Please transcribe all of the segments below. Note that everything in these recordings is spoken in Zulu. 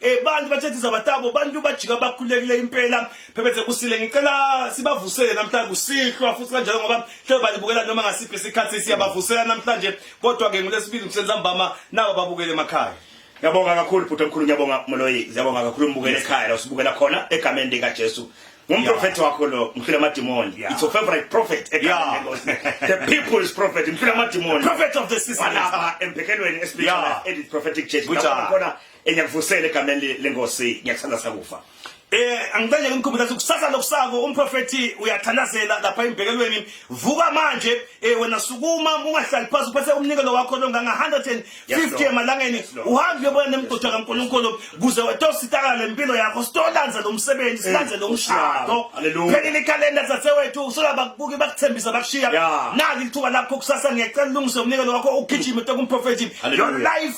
Eh bantu bathethe zabatabo bantu bajika bakhulekile impela phephethe kusile ngicela sibavusele namhlanje kusihlwa futhi kanjalo ngoba hle balibukela noma ngasiphi isikhathi siyabavusela namhlanje kodwa ke ngolesibili kusenza mbama nabo babukele emakhaya Ngiyabonga kakhulu bhuti omkhulu ngiyabonga Moloyi ngiyabonga kakhulu umbukele ekhaya la usibukela khona egameni lika Jesu ngumprofethi wakho lo mfile amadimoni yeah. it's your favorite prophet yeah. the people's prophet mfile amadimoni prophet of the season lapha emphekelweni esibika yeah. edit prophetic church lapha khona Ngiyakuvusela egameni le- lenkosi ngiyakuthanda sakufa. Eh angicele ngimkhumbuza ukuthi kusasa lokusako umprofethi uyathandazela lapha embhekelweni vuka manje eh wena sukuma ungahlali phansi uphethe umnikelo wakho longanga 150 Yes, Lord. emalangeni Yes, Lord. uhambe uyobona nemgodi kaNkulunkulu kuze wetositakala lempilo yakho sitolanza lo msebenzi silanze lo Nkosi yami. mshado Hallelujah. phelile ikhalenda dzadzewethu sola bakubuki bakuthembisa bakushiya Yeah. nali lithuba lakho kusasa ngiyacela ulungise umnikelo wakho ugijime tokumprofethi Hallelujah. your life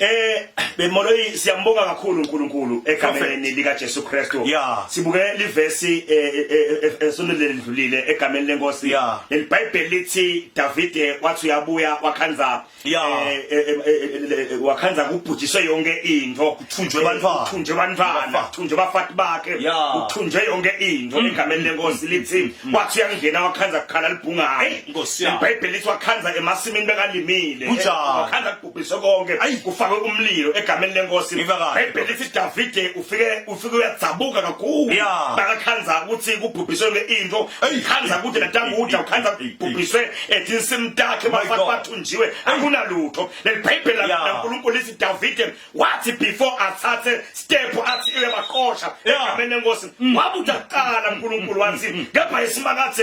Eh bemoloyi siyambonga kakhulu uNkulunkulu egameni lika Jesu Kristu. Yeah. Sibuke livesi eh, eh, eh, esonto lelidlulile egameni lenkosi. Yeah. Lelibhayibheli lithi Davide wathi uyabuya wakhanza yeah. eh wakhanza kubhujiswe yonke into. Kuthunjwe bantwana. Kuthunjwe bantwana. Kuthunjwe bafati bakhe. Yeah. Kuthunjwe yonke into mm. egameni lenkosi lithi mm. Mm. wathi uyangena wakhanza kukhala libhungayo. Hey, Nkosi. Ibhayibheli lithi wakhanza emasimini bekalimile. Wakhanza ubhise konke ayi kufake umlilo egameni lenkosi bhayibheli lithi davide ufike ufike uyadzabuka kakhulu bakakhanza ukuthi kubhubhiswe yonke into khanza kude natanguda ukhanza kubhubhiswe etinsimu takhe bafake bathunjiwe akunalutho leli bhayibheli lankulunkulu lithi davide wathi before athathe step athi uyabaqosha egameni lenkosi mm. wabuthi akuqala unkulunkulu wathi mm. kepha isimakathi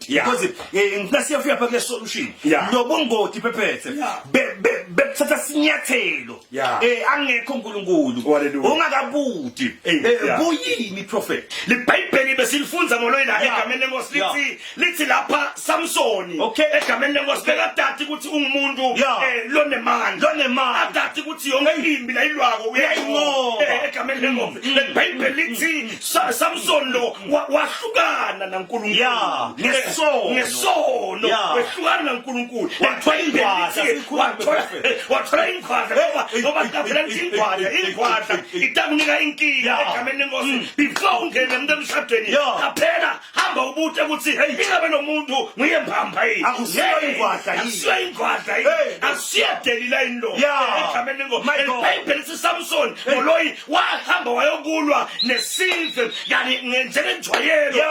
Yeah. Because eh, ngifuna siyafika pha kule solution. Yeah. Nobungoti phephethe. Yeah. Be be bekuthatha sinyathelo. Yeah. Eh angekho uNkulunkulu. Hallelujah. Ungakabuti. Eh, Eh, yeah. Buyini prophet? libhayibheli besilifunza ngoloyi la Yeah. egameni lenkosi Yeah. lithi lithi lapha samsoni Okay. egameni lenkosi bekadadi ukuthi ungumuntu Yeah. eh, lonemandla Lonemandla. adadi ukuthi yonke imbi layilwako uyayinqoba. uyayinqoba Eh, egameni lenkosi lelibhayibheli lithi Sa- samsoni lo wa- wahlukana Yeah, nankulunkulu ngesono. ngesono Yeah. wehlukana nankulunkulu Wathola ingwadla, sikhuluma prophet. wathola ingwadla ngoba Eh, ngoba eh, qabhela eh, lithi eh, ingwadla eh, eh, ingwadla eh, eh. itakunika inkinga Yeah. Mm. egameni lenkosi before ungene emntu emshadweni Yeah. qaphela hamba ubute ukuthi hey ingabe lo muntu nguye mbamba yini akusiyo ingwadla yini akusiyo ingwadla yini akusiyo delila indoda egameni ngo elibhayibheli siSamson ngoloyi wahamba wayokulwa nesizwe yani njengenjwayelo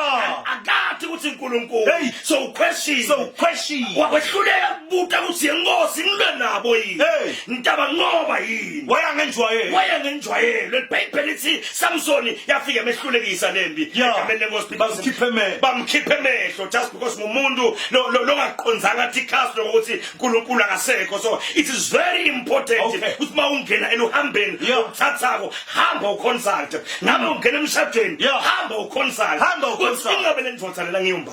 akathi ukuthi uNkulunkulu so uquestion so uquestion wakwehluleka kubuta ukuthi yenkosi ngilwe nabo yini ngitaba ngoba yini wayangenjwayelo wayangenjwayelo elibhayibheli lithi Samsoni yafika emehlulekisa lempi egameni lenkosi bamkhiphe emehlo bamkhiphe emehlo just because ngumuntu longaqonzanga thi cast lokuthi uNkulunkulu akasekho so it is very important ukuthi uma ungena eluhambeni uthathako hamba uconsult ngabe ungena emshadweni hamba uconsult hamba uconsult ingabe lendoda lela ngiyumba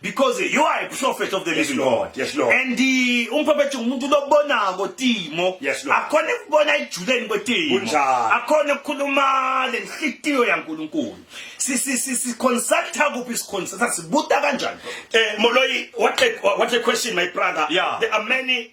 because you are a prophet of the yes, living Lord. God. Yes, Lord. And the umprophet umuntu lobona ngotimo. Yes, Lord. Akhona ukubona ejuleni kwetimo. Kunjalo. Akhona ukukhuluma lenhlitiyo yaNkulunkulu. Si si si si consult kuphi si consult sibuta kanjani? Eh Moloi, what a, what a question my brother. Yeah. There are many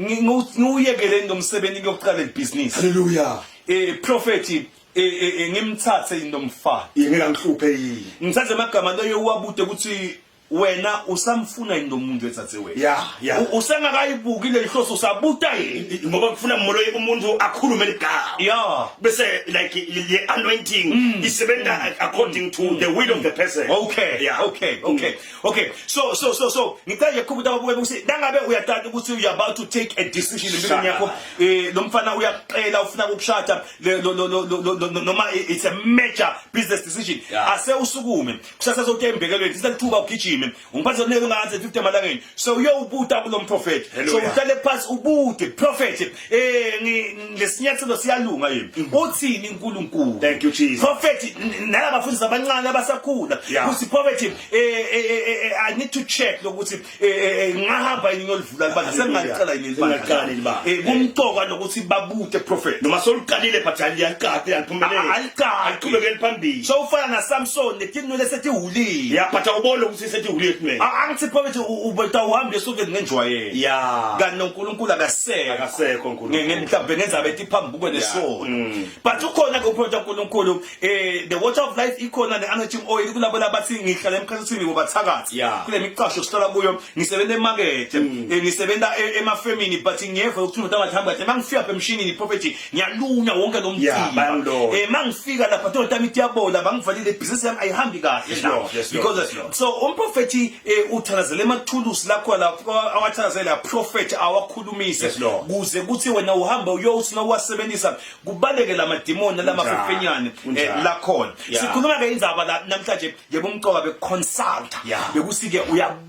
ngiwuyekeleni lomsebenzi ngiyoqala ibhizinisi haleluya eh prophet eh, eh, eh ngimthathe into mfana yengela ngihluphe yini ngithathe amagama leyo uwabude ukuthi wena usamfuna yini lo muntu ethathe wena ya ya usengakayibuki le nhloso usabuta yini ngoba kufuna molo umuntu akhulume ligama ya bese like le anointing mm. isebenza mm. according to the will of the person okay yeah okay okay mm. Okay, so so so so ngicela nje ukukhumbuza ababuke ukuthi nangabe uyatata ukuthi you are about to take a decision empilweni yakho eh lo mfana uyakuqela ufuna ukushada noma it's a major business decision ase usukume kusasa zokuthi embekelweni sisa lithuba ugijime ungiphathe zonelo ngathi 50 malangeni so uyowubuta kulo mprofeti so uhlale phansi ubude prophet Eh ngesinyathelo siyalunga yini? Mm. Uthini uNkulunkulu? Thank you Jesus. Prophet nalaba bafundisi abancane abasakhula. Uthi prophet eh, eh, eh, eh I need to check lokuthi ngahamba yini ngolivula libandla sengaliqala yini libandla. Eh kumqoka lokuthi babute prophet. Noma soliqalile but aliyaqaqi aliphumelele. Aliqaqi. Aliqhubekele phambili. So ufana na Samson nekinwele sethi hulile. Yeah but awubona ukuthi sethi ulietman A- angithi phakathi ubeta uhambe esokeni ngenjwayelo ya kanti noNkulunkulu akasekho Akasekho uNkulunkulu. Nge- nge- mhlawumbe ngenzabe ethi phambi kuke nesono mm. but ukhona ke uproject uNkulunkulu eh the water of life ikhona ne anointing oil kulabo labathi ngihlala emkhathini ngoba thakathi Yeah. Mm. kule miqasho sihlala kuyo ngisebenza emarket eh, ngisebenza e- emafemini but ngiyeva ukuthi umuntu angathi hamba kahle mangifika apha emshinini prophecy ngiyalunywa wonke lo mthimba eh mangifika lapha tonta mithi yabola bangivalile business yami ayihambi kahle la because so umprofeti eh, uthanazele emathulusi lakho lapho awathanazela prophet awakhulumise kuze kuthi wena uhamba uyosina uwasebenzisa kubaleke la madimoni lama fefenyane eh, lakhona sikhuluma ke indaba la namhlanje yebo umqoka be consulta bekusike uya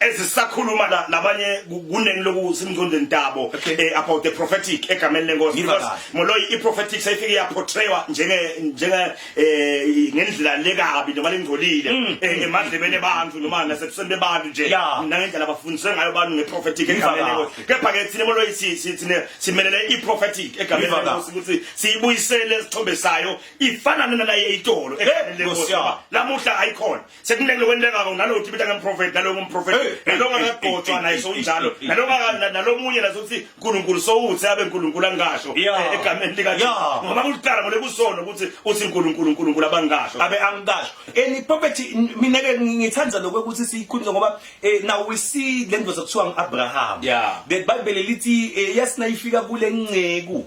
ezisakhuluma la labanye kuneni loku simngcondweni tabo okay. eh, about the prophetic egameni lenkosi because moloyi i prophetic sayifike ya portraywa njenge njenge eh ngendlela lekabi noma lengcolile mm, mm. eh, emadlebeni abantu noma nasebusweni bebantu nje yeah. nangendlela abafundiswe ngayo abantu nge prophetic egameni lenkosi kepha ke thina moloyi si sithine simelele i prophetic egameni lenkosi ukuthi siyibuyisele isithombe sayo ifanane nalaye itolo egameni lenkosi lamuhla ayikhona sekumleke lokwenteka ko nalo uthi bita ngemprofeti nalo ngumprofeti eh, eh, nalo ngakagotshwa eh, naye sowunjalo nalo nalomunye nazo uthi uNkulunkulu sowuthi abe uNkulunkulu angasho egameni lika ngoba kuliqala ngole kusona ukuthi uthi uNkulunkulu uNkulunkulu abangasho abe angasho any property mina ke ngithanda lokho ukuthi siyikhulise ngoba now we see lento zakuthiwa ngiAbraham the bible lithi yasina ifika kule nceku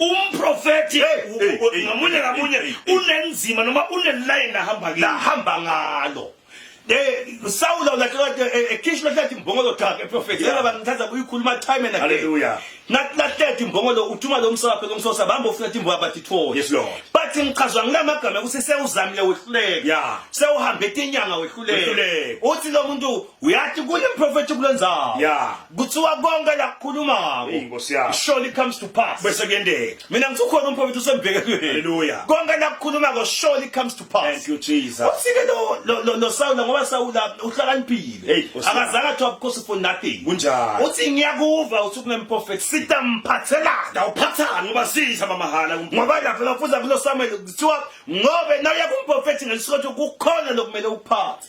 umprofethi ngamunye ngamunye unenzima noma unelayini ahamba kuyo ahamba ngalo sawula ulahlekat ekhishwa hlathi imbongolo thaka eprofethi yena bangithatha kuyikhuluma time and again nakulathethe imbongolo uthuma lo msaphe lomsosa bamba ufuna imbo abathi tho yes lord but ngichazwa ngilamagama ukuthi sewuzamile wehluleke yeah sewuhambe etinyanga wehluleke uthi lo muntu uyathi kunemprofethi kulenzayo yeah kuthiwa konke lakukhuluma ngako inkosi yami surely comes to pass bese kuyendeka mina ngithi ukhona umprofethi usembheke kuye haleluya konke lakukhuluma ngako surely comes to pass thank you jesus usike lo lo lo sawula ngoba sawula uhlakaniphile akazange athiwa because for nothing kunjani uthi ngiyakuva uthi kunemprofethi sita mphathelana awuphathani ngoba sitha mamahala ngoba lapho lafuza kulo samuel kuthiwa ngobe nawe yakumprofethi ngelisokho kukhona lokumele uphathe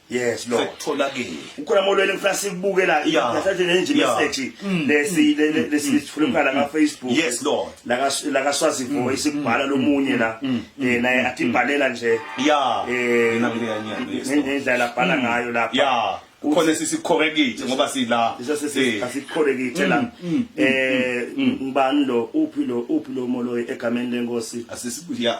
Yes Lord. Sekutholakile. Ukhona molweni ngifuna sikubuke la. Ngisathi le nje message mm. lesi mm. lesi mm. sifuna ukhala ka Facebook. Yes Lord. La ka la ka Swazi voice ikubhala lomunye la. Eh naye atibhalela nje. Yeah. Eh nina mina ngiyanyana. Ngendlela bhala ngayo lapha. Yeah. khona sisikhorekithe ngoba sila eh. asikhorekithe la mm, mm, mm, eh ngibani lo uphi lo uphi lo moloyi egameni lenkosi asisibuya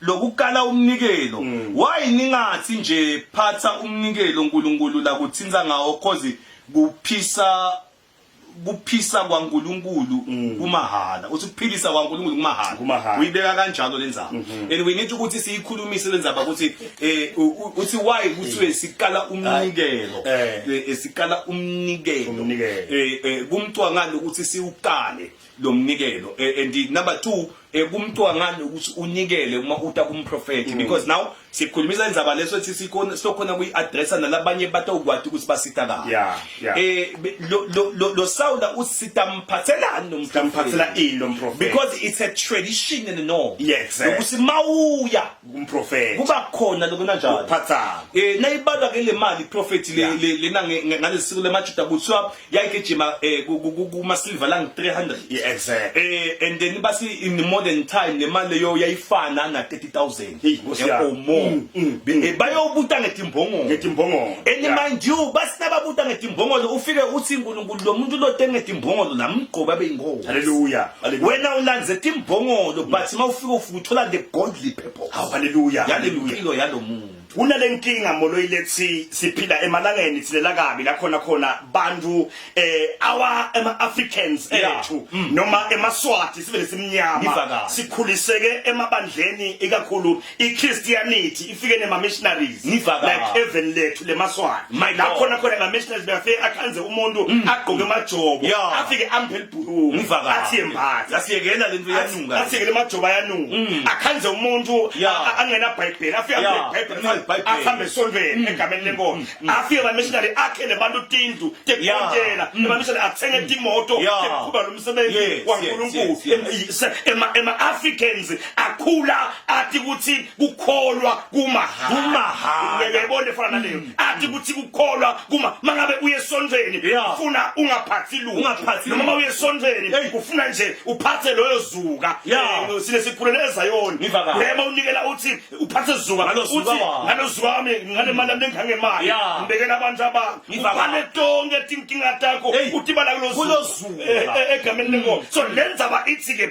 lokukala umnikelo mm. why ningathi nje phatha umnikelo uNkulunkulu la kuthinta ngawo cause kuphisa kuphisa kwaNkulunkulu mm. kumahhala uthi kuphilisa kwaNkulunkulu kumahhala uyibeka kanjalo lenzaba mm-hmm. and we need ukuthi siyikhulumise lenzaba ukuthi eh uthi why kuthiwe sikala umnikelo eh. Eh, eh, sikala umnikelo eh kumcwangana ukuthi siwukale lomnikelo and number 2 eh, kumntwangani ukuthi unikele uma uta kumprofethi mm. because now sikhulumisa indzaba leso ethi sikhona silokhona kuyi-addressa nalabanye batawukwati ukuthi basita kabi yeah, yeah. eh, lo, lo, lo, lo sawula uthi sitamphathelani nomtamphathela ini lomprofethi because it's a tradition and a norm yes, eh. ukuthi mawuya umprofeti kuba khona lokho kanjalo ukuphathana eh nayibalwa ke le mali prophet le lena ngalesiko lemajuda kuthiwa yayigijima eh, kuma silver lang 300 yeah exact eh and then basi in the modern time le mali leyo yayifana na 30000 hey or more mm, mm, mm. Eh, bayobuta ngetimbongolo ngetimbongolo and mind you basinababuta ngetimbongolo ufike uthi uNkulunkulu lo muntu lo tenge timbongolo namgqoba beyingozi haleluya wena ulandze timbongolo but mawufika thola the godly purpose hawu haleluya Hallelujah. impilo yalo muntu kunale nkinga moloyi lethi siphila emalangeni thilela kabi la khona khona bantu eh awa ema Africans Yeah. ethu Mm. noma emaswati sibe Ngiva nesimnyama kabi. sikhuliseke emabandleni ikakhulu iChristianity ifike nema missionaries Ngivakala. like even lethu lemaswana My la God. khona khona la missionaries bafike akhanze umuntu agqoke amajobo Mm. Yeah. afike amphe libhuluku Ngivakala. athi yembatha Yasiyekela lento yanunga. asikele majoba yanuka akhanze umuntu Mm. Yeah. a- a- angena bhayibheli afike Yeah. Mm. amphe Angena ibhayibheli ibhayibheli. ahambe esontweni egameni lenkomo afike la missionary akhe nebantu tindlu tekukontela ema missionary athenge timoto Mm. Yeah. tekuqhuba lo msebenzi Yes, yes, waNkulunkulu yes, yes. Em- i- se- ema ema Africans akhula athi ukuthi kukholwa kumahhala kumahhala ngeke ibone fana naleyo mm. athi ukuthi kukholwa kuma mangabe uye esonjeni ufuna ungaphathi lutho noma uma uye esonjeni ufuna nje uphathe loyo zuka eh, sine sikhulele ezayoni yema unikela uthi uphathe zuka uthi ngalozuka wami ngane mali yami ngihange imali ngibekela abantu aba ngivale tonke tinkinga takho uthi bala kulozuka eh, eh, egameni lenkomo so lenza ba ithi ke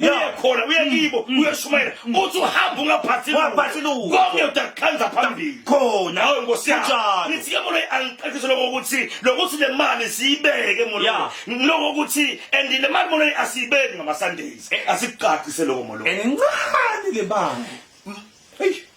uye khona uye kibo mm. uyeshumayela mm. uthi uhamba ungaphathi waphathi lutho konke utakhanza phambili khona nawe nkosi yami ngithi ke molo angiqekise lokho ukuthi lokuthi le mali siyibeke molo lokho ukuthi and le mali molo asiyibeki ngama Sundays eh. asiqaqise lokho molo encane le mali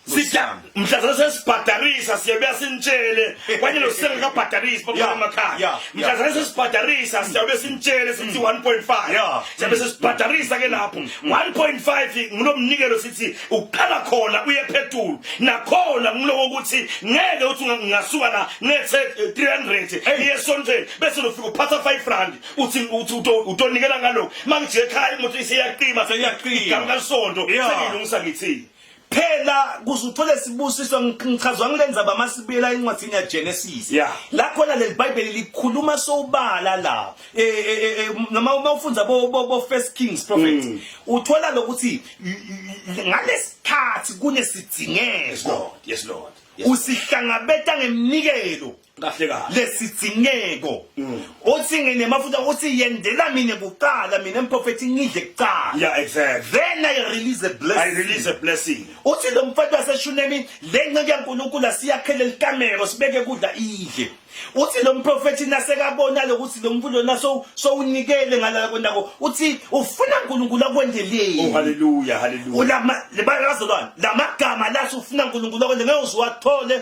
sitya mhlazana sesibhadarisa siyabuya sinitshele kwanye losisele kabhadarisi babuya emakhaya mhlazana sesibhadarisa siyabuya sinitshele sithi 1.5 siyabe sesibhadarisa ke lapho 1.5 mm. ngunomnikelo sithi uqala khona uye phethulu nakhona ngiloko ukuthi ngeke uthi ngingasuka la ngethe 300 iye sontweni bese lofika uphatha 5 rand uthi uthi uto- utonikela ngalokho uma ngijike ekhaya imoto isiyaqima Seyaqima. igama kalisonto Yeah. sengilungisa ngithini phela kuze uthole isibusiso ngi- ngichazwa ngile ndzaba masibuyela encwadini yagenesis Yeah. la khona leli bhayibheli likhuluma sobala la Eh, eh, eh, eh, noma uma ufundza bo- bo bo first kings prophet Mm. uthola lokuthi y- y- ngalesikhathi yes kunesidzingeko lord yes lord yes. usihlangabeta ngeminikelo kahle kahle lesidzineko mm. othi nginemafuta othi yendela mina kuqala mina mprofethi ngidle kuqala yeah exactly then i release a blessing i release a blessing uthi lo mfati waseshunemi le nceke yaNkulunkulu asiyakhele likamero sibeke kudla idle uthi lo mprofethi nasekabona lokuthi lo mfundo naso sowunikele ngalala konako uthi ufuna uNkulunkulu akwendeleni oh haleluya haleluya ulama lebazolwana lamagama lathi ufuna uNkulunkulu akwenze ngeke uziwathole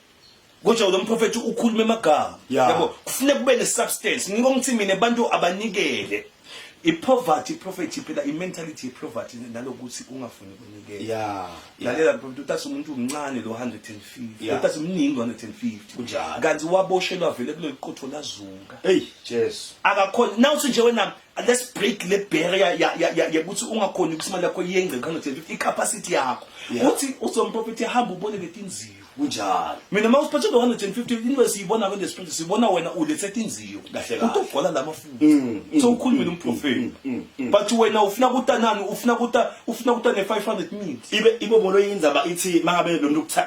Kodwa lo mprofethi ukhuluma emagama. Yeah. Yabo kufuneka kube ne substance. Ngikho ngithi mina abantu abanikele. I poverty prophet phela i mentality ye poverty nalokuthi ungafuni kunikela. Yeah. Lalela prophet uthatha umuntu omncane lo 150. Yeah. Uthatha umningi 150. Kunjalo. Kanti waboshelwa vele kuleli qotho lazuka. Hey, Jesu. Akakhona. Now uthi nje wena let's break le barrier ya ya ya ukuthi ungakhoni ukuthi imali yakho yengce 150 i capacity yakho. Uthi uzomprophet ehamba ubone letinzima. kunjalo mina uma usiphethe ngo 150 into esiyibona kwenze siphethe sibona wena ulethe inziyo kahle kahle utogcwala lama futhi mm, mm, so ukhulumile mm, umprofeti but wena ufuna kutanani ufuna kuta ufuna kuta ne 500 minutes ibe ibo bolo indzaba ithi mangabe lo muntu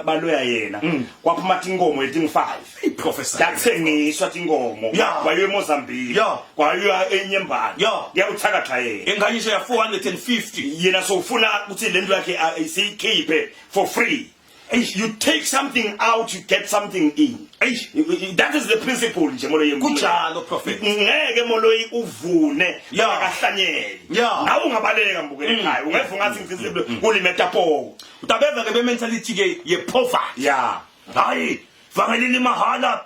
baloya yena kwaphuma tinkomo eting 5 iprofessor yathengiswa tinkomo wayo eMozambique kwayo enyembani yakuthakatha yena enganyisho ya 450 yena sofuna ukuthi lento yakhe isikhiphe for free Eish, you take something out you get something in Eish, that is the principle nje moloyi kunjalo prophet ngeke moloyi uvune Yeah. akahlanyeli Yeah. nawe ungabaleka mbukele Mm. ekhaya ungeva ungathi mm. ngifisile mm. kulimetapowo utabeza ke bementality ke yepoverty ya hayi vangelini mahala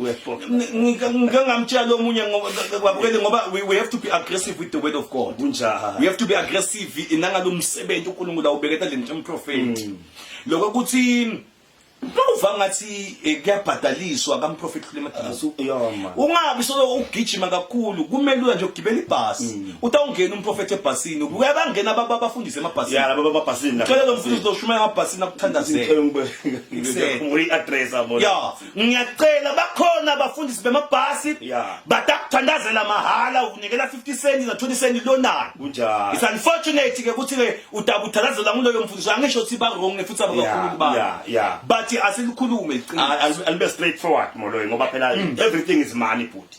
ngike ngamtshela omunye kwabukeli ngoba we have to be aggressive with the word of god kunjani we have to be aggressive nangalo msebenzi uNkulunkulu awubeketa le nto emprofeti mm. lokho ukuthi Bawuva ngathi eh, kuyabhadaliswa kaMprophet Khulema Dlasu. Ah, Ungabi solo ugijima kakhulu kumele uya nje ugibela ibhasi. Mm. Utawungena uMprophet ebhasini. Ubuya bangena baba abafundise emabhasini. Ya laba babhasini. Cela lo mfundisi uzoshuma emabhasini akuthandazela. Ngicela ngibeke re-address abona. Ya. ngiyacela bakhona abafundisi bemabhasi yeah. but akuthandazela mahhala ukunikela 50 cent na 20 cent lonani kunjalo it's unfortunate ke ukuthi ke utabuthandazela kuloyo mfundisi angisho ukuthi ba wrong futhi abakhulu ba yeah, yeah. but asilikhulume liqiniso alibe straight forward moloyo ngoba phela mm. everything is money bhuti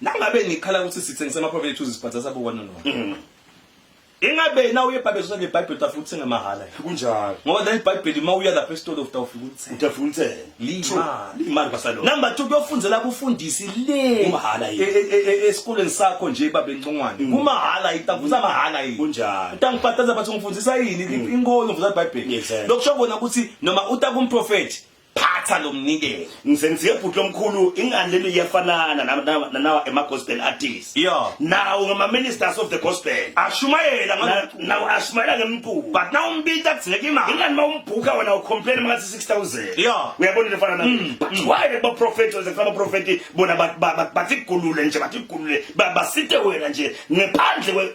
Nangabe nikhala ukuthi sithengisa amaprofit ethu zisibhadza sabukwana no. Mm. Ingabe na uye bhabezo le Bible utafuta uthenga mahala. Kunjalo. Ngoba leli Bible uma uya lapha esitolo utawufika uthenga. Utafika uthenga. Lima. Lima basalo. Number 2 kuyofundela kufundisi le. Umahala yini? E, e, e, Esikoleni sakho nje babe ncongwane. Mm. Kumahala itafuta mahala yini? Kunjalo. Utangibhataza bathi ngifundisa yini? Mm. Inkolo ngifundisa Bible. Lokusho kona ukuthi noma utakumprofeti phatha lo mnikelo ngisengiziye bhuti lomkhulu ingani leli iyafanana na- na- nanawa ema-gospel artist Yeah. nawo ngama-ministers of the gospel Ashumayela Na- ngabe nawo ashumayela ngemculo but now umbita kudzingeka imali. ingani uma umbhuka wena ucomplain ngathi 6000 Yeah. uyabona into efana nayo but why le baprofethi oze kufana abaprofethi bona ba- ba- ba- bathi kulule nje bathi kulule Ba- basite wena nje ngephandle kwe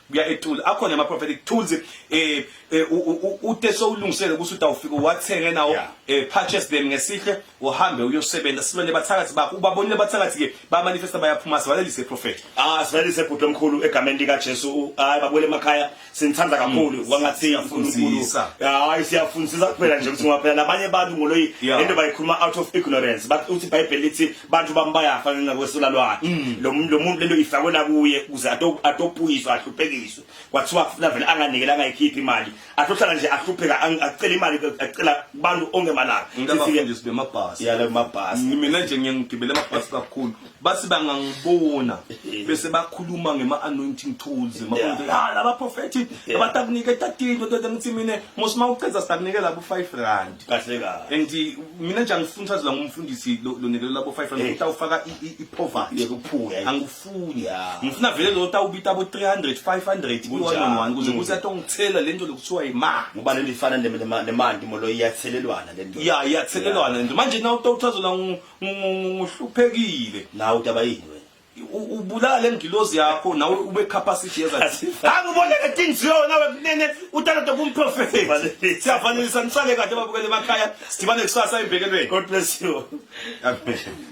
kuya etools akhona ama prophetic tools eh, eh ute sowulungisele ukuthi utawufika wathenge nawo eh, purchase them ngesihle uhambe uyosebenza sibone bathakathi bakho ubabonile bathakathi ke ba manifesta bayaphuma sivalelise prophet ah sivalelise bhuti omkhulu egameni lika Jesu hayi babuyele emakhaya sinithanda kakhulu mm. wangathi siyafuna uNkulunkulu hayi siyafundisa kuphela nje ukuthi ngoba phela labanye abantu ngoloyi into bayikhuluma out of ignorance bathi uthi bible lithi bantu bami bayafa ngenxa kwesula lwakhe mm. lo muntu lo muntu lento ifakwe la kuye kuze atopuyiswa ahluphekiswe kwathiwa kufuna vele anganikele angayikhiphi imali athohlala nje ahlupheka acela imali acela kubantu ongemalanga ngabafundisi bemabhasi yale mabhasi mina nje ngiyangigibela amabhasi kakhulu basi bangangibona bese bakhuluma ngema anointing tools makonto ha ah, laba prophet abatakunike tatilo ngithi mina mosima uceza sitakunikela bu 5 rand igrade kahle kahle and eh, mina nje angifuni uthathe la ngumfundisi lo lo nikelo labo 500 Hey. ukuthi awufaka i- i- i-poverty yeke ukuphuka yayi. angifuni Yeah. ngifuna vele lo tawubita bo 300 500 ku one Kunjalo. on one kuze Mm. kuthi atongithela lento lokuthiwa yimali ngoba lento ifana ne- nema- nemanti molo iyathelelwana lento ya iyathelelwana nje manje nawu tawuthazela ngu- ngu- ngu- nguhluphekile nawe udaba yini wena ubulala lengilozi yakho nawe ube capacity yeza angibone ke things yo nawe kunene utalente kumprofeti siyafanelisa nisale kahle babukele emakhaya sidibane kusasa embekelweni god bless you amen